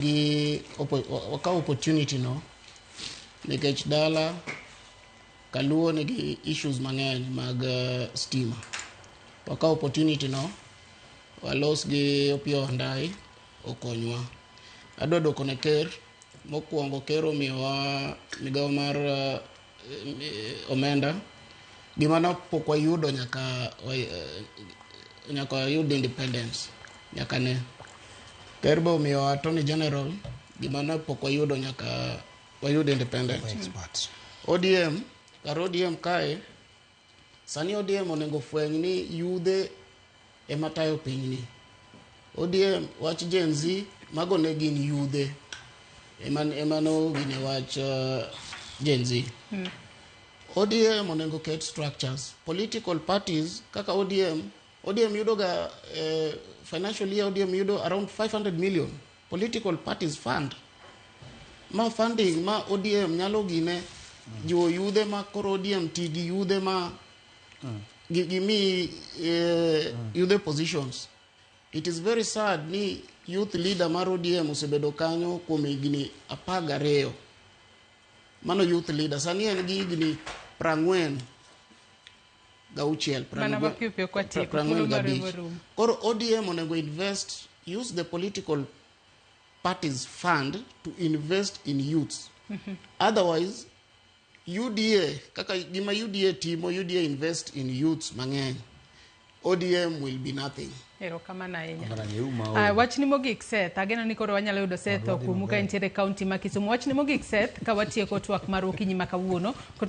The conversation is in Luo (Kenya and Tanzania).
gi wakaw opportunity no nikech dala kaluo nigi issues mang'eny mag eh, stima wakaw opportunity no walos gi opio ondai okonywa adwa dwoko ne ker mokwongo ker omiyowa migawo mar eh, omenda gima no pok wayudo nyaka eh, nyaka wayud independence nyaka ne ker be omiyo attorney general gima no pok wayudo nyaka wayud independence odm kar odm kae Sani ODM onego ofweny ni yudhe ema tayo pinyni. ODM wach Gen Z mago ne gin yudhe ema ema no gine wach uh, Gen Z. Hmm. ODM onego ket structures. Political parties kaka ODM, ODM yudoga eh, financial year ODM yudo around 500 million. Political Parties Fund. Ma funding ma ODM nyalo gine jiwo yudhe ma koro ODM ti gi yudhe ma gi- gimi eh, yudhe positions. It is very sad ni youth leader mar ODM osebedo kanyo kuom higni apar gariyo. Mano youth leader. Sani en gi higni prang'wen gauchiel Mana ma piyo piyo kwa tieko, prang'wen thuolo marwa gabich rum. koro odm onego invest use the political parties fund to invest in youths otherwise uda kaka gima uda timo uda invest in youths mang'eny odm will be nothing Erokamano ahinya. Mara ni uma o. Ah, wachni mogik Seth, ageno ni koro wanyalo yudo Seth okumu ka entiere e kaunti ma Kisumu. Wachni mogik Seth, ka watieko twak marwa okinyi ma kawuono. Kot-